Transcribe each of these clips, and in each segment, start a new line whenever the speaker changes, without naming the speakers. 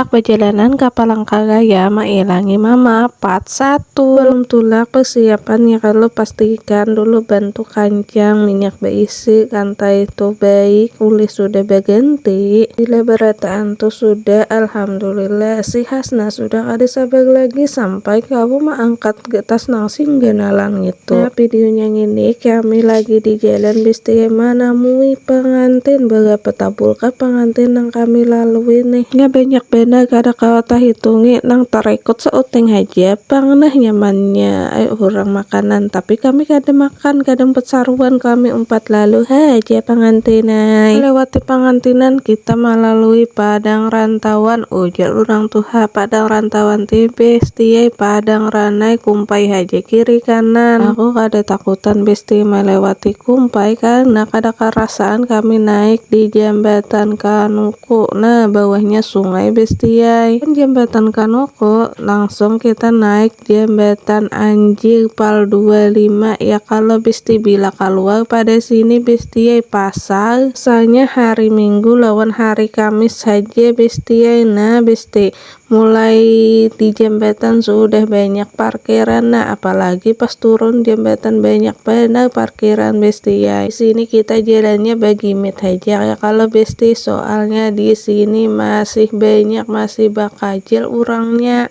Tulak bajalanan ka Palangkaraya mailangi mama part satu. Balum tulak persiapan ya kalo pastikan dulu bantu kancang minyak baisi lantai tu baik ulih sudah baganti bila barataan tu sudah alhamdulillah si hasna sudah kada sabar lagi sampai kawa maangkat Getas nang sing ganalan ngitu. Nah videonya ngini kami lagi di jalan bis TMA namui pangantin berapa tabulkah pangantin nang kami lalui nih. Nya banyak banar kada kawa tahitungi nang tarekut seuting haja pang nah nyamannya ai urang makanan tapi kami kada makan kada umpat saruan kami umpat lalu haja pangantin ai. Melewati pangantinan kita malalui padang rantauan Ujar urang tuha, padang rantawan ti besti ai, padang ranai kumpai haja kiri kanan. Aku kada takutan besti malewati kumpai karna kada karasaan kami naik di jambatan kanuku, nah bawahnya sungai besti ai. Wan jambatan kanuku langsung kita naik. Jambatan anjir pal dua lima ya kalo besti bila kaluar pada sini bestiai pasar sanya hari minggu lawan hari kamis haja bestiai nah besti mulai di jambatan sudah banyak parkiran nah apalagi pas turun jambatan banyak banar parkiran bestiai di sini kita jalannya bagimit haja ya kalo besti soalnya di sini masih banyak masih bakajil urangnya.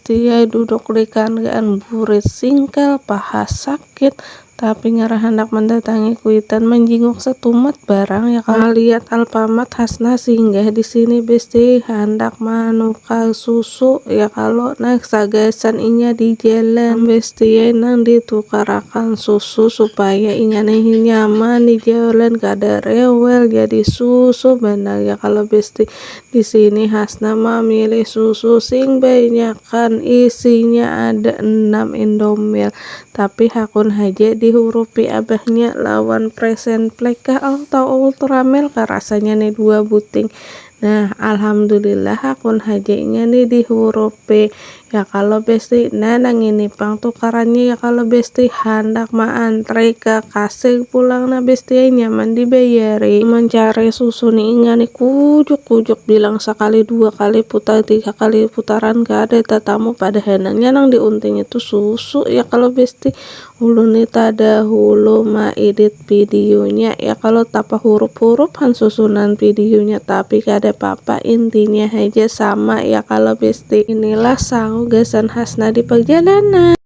Tia duduk di kandian burit singkal, paha sakit, tapi ngara handak mandatangi kuitan manjinguk satumat barang ya kalo. Maliat Alpamat Hasnah singgah di sini besti handak manukar susu ya kalo nah sagasan inya di jalan. Am besti ai nang ditukarakan susu supaya inya ni nyaman di jalan kada rewel jadi susu banar ya kalo besti. Di sini Hasna mamilih susu sing banyakan, isinya ada enam Indomilk. Tapi hakun haja dihurupi abahnya lawan present plek kah atau ultramilk kah rasanya ni dua buting. Nah, alhamdulillah hakun haja inya ni dihurupi. Ya kalo besti, nah nangini pang tukarannya ya kalo besti, handak ma antri ka kasih pulang nah besti ai nyaman di bayari, amun cari susu ni inga ni kujuk kujuk bilang sakali dua kali putar tiga kali putaran kada tatamu padahanannya nang di unting itu susu ya kalo besti. Ulun ni tada hulu ma edit video nya ya kalo tapa hurup hurup han susunan video nya tapi kada papa intinya haja sama ya kalo besti. Inilah sangu gasan hasna di perjalanan.